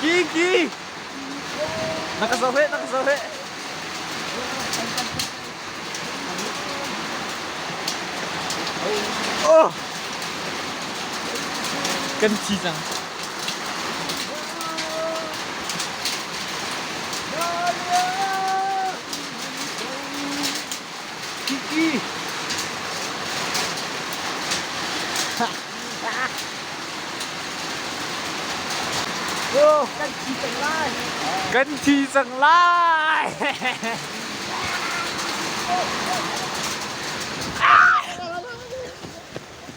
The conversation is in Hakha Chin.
Kingi! Na ka zoh heh, na ka zoh heh. Oh! Kan thi cang. kan thi cang lai kan thi cang lai